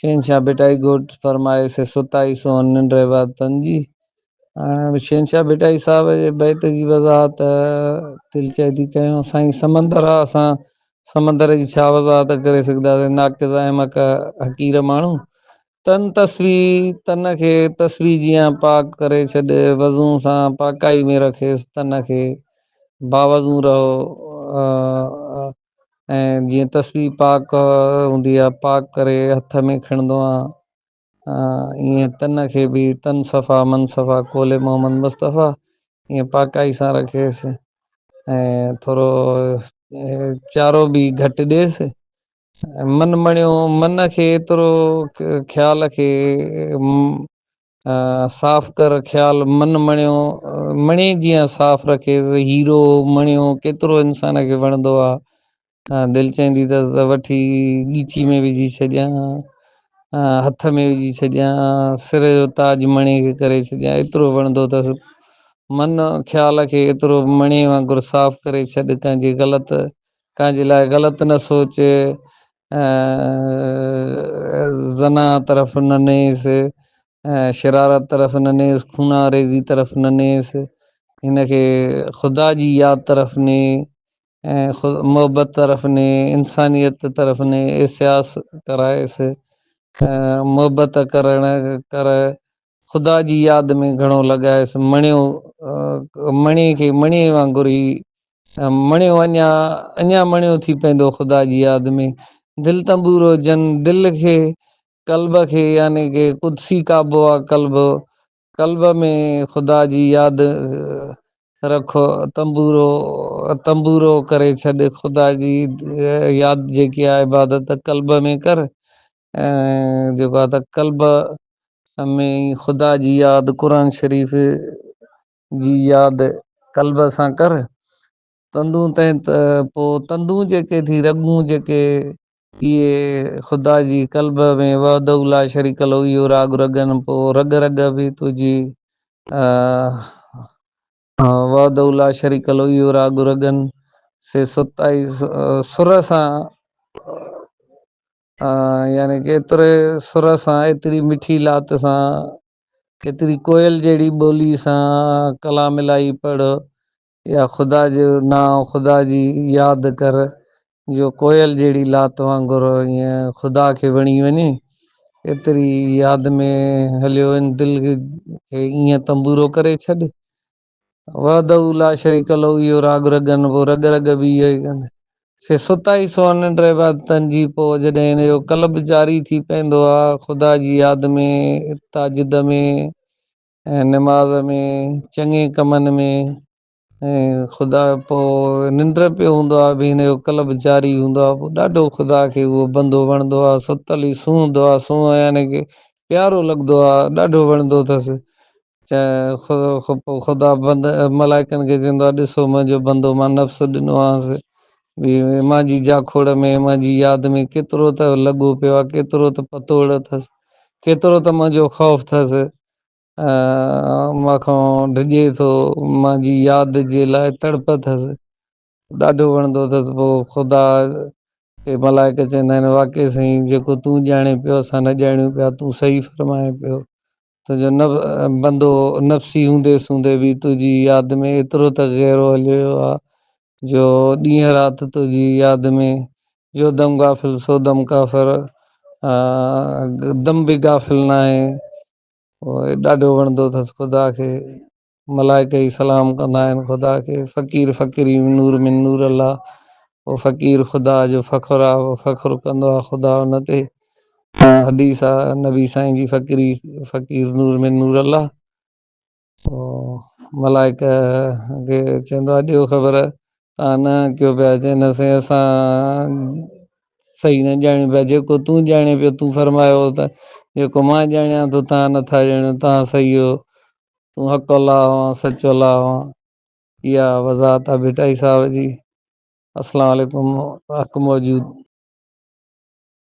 شهنشاهه ڀٽائي گهوٽ فرمائي سي ستائي سونهن ننڊ عبادتن جي. هاڻي شهنشاهه ڀٽائي صاحب جي بيت جي وضاحت دل چاهي ٿي ڪيون سائين سمندر آ اسان سمندر جي ڇا وضاحت ڪري سگهداسين ناقص احمق حقير ماڻهو تن تسبيح تن کي تسبيح جيان پاڪ ڪري ڇڏ وضو سان پاڪائي ۾ رکيس تن کي باوضو رهو ۽ جيئن تسبيح پاڪ هوندي آ پاڪ ڪري هٿ ۾ کڻندو آ ايئن تن کي به تن صفا من صفا قول محمد مصطفٰي ايئن پاڪائي سان رکيس ۽ ٿورو چارو به گهٽ ڏيس من مڻيو من کي ايترو خيال کي صاف ڪر خيال من مڻيو مڻي جيان صاف رکيس هيرو مڻيو ڪيترو انسان کي وڻندو آ دل چهندي تس ته وٺي ڳيچي ۾ وجهي ڇڏيان هٿ ۾ وجهي ڇڏيان سر جو تاج مڻي کي ڪري ڇڏيان ايترو وڻندو تس من خيال کي ايترو مڻي وانگر صاف ڪري ڇڏ ڪنهن جي غلط ڪنهن جي لاء غلط نه سوچ زنا طرف نه نيس شرارت طرف نه نيس خوناريزي طرف نه نيس هن کي خدا جي ياد طرف ني ۽ خود محبت طرف ني انسانيت طرف ني احساس ڪرائس محبت ڪرڻ ڪر خدا جي ياد ۾ گهڻو لڳايس، مڻيو مڻي کي مڻي وانگر هي مڻيو اڃا اڃا مڻيو ٿي پيندو خدا جي ياد ۾، دل تنبورو جن دل کي قلب کي يعني ڪي قدسي قابو آ قلب قلب ۾ خدا جي ياد رک تنبورو تنبورو ڪري ڇڏ خدا جي ياد جيڪي آ عبادت قلب ۾ ڪر جيڪو آ ته قلب ۾ خدا جي ياد قرآن شريف جي ياد قلب سان ڪر تندون تين ته پوء تندون جيڪي ٿي رڳون جيڪي اهي خدا جي قلب ۾ وحده لا شريڪ له اهو راڳ رڳن پوء رڳ رڳ به تنهنجي وحده لا شريڪ له اهو راڳ رڳن سي ستائي سر سان يعني ڪيتري سر سان ايتري مٺي لات سان ڪيتري ڪوئل جهڙي ٻولي سان ڪلام الاهي پڙهه يا خدا جو نانء خدا جي ياد ڪر جو ڪوئل جهڙي لات وانگر ائين خدا کي وڻي وڃي ايتري ياد ۾ هليو وڃ دل کي ائين تنبورو ڪري ڇڏ وحده لا شريڪ له اهو راڳ رڳن پوء رڳ رڳ به اهو ئي ڪندي. سي ستائي سون ننڊ عبادتن جي پوء جڏهن هن جو قلب جاري ٿي پئندو آ خدا جي ياد ۾ تاجد ۾ ۽ نماز ۾ چڱي ڪمن ۾ ۽ خدا پوء ننڊ پيو هوندو آ به هن جو قلب جاري هوندو آ پوء ڏاڍو خدا کي اهو بندو وڻندو آ ستل ئي سونهندو آ سونهن يعني ڪي پيارو لڳدو آ ڏاڍو وڻندو تس خدا بند ملائڪن کي چوندو آ ڏسو منهنجو بندو مان نفس ڏنو آهنس مان جي جا کوڙ ۾ مان جي ياد ۾ ڪيترو ته لڳو پيو آ ڪيترو ته پتوڙ اٿس ڪيترو ته منهنجو خوف ٿس مان کان ڊڄي ٿو مان جي ياد جي لاء تڙپ ٿس ڏاڍو وڻندو اٿس پو خدا کي ملائڪ چوندا آهن واقعي سائين جيڪو تون ڄاڻين پيو اسان نه ڄاڻيون پيا تون صحيح فرمائين پيو تنهنجو نه بندو نفسي هوندي سوندي به تنهنجي ياد ۾ ايترو ته گهرو هليو ويو آ جو ڏينهن رات تنهنجي ياد ۾ جو دم غافل سو دم ڪافر آ دم به غافل ناهي ڏاڍو وڻندو اٿس خدا کي ملائڪ ئي سلام ڪندا آهن خدا کي فقير فقيري من نور من نور الله او فقير خدا جو فخر آ او فخر ڪندو آ خدا ان تي حديث آ نبي سائين جي فقيري فقير نور من نور الله او ملائڪ کي چوندو آ ڏيو خبر تان نه ڪيو پيا چين اسين اسان صحيح نه ڄاڻيو پيا جيڪو تون ڄاڻي پيو تون فرمايو ته جيڪو مان ڄاڻيان ٿو تان نٿا ڄاڻيو تان صحيح هو تون حق الله آن سچ الله آن اها وضاحت آ ڀٽائي صاحب جي السلام عليڪم حق موجود.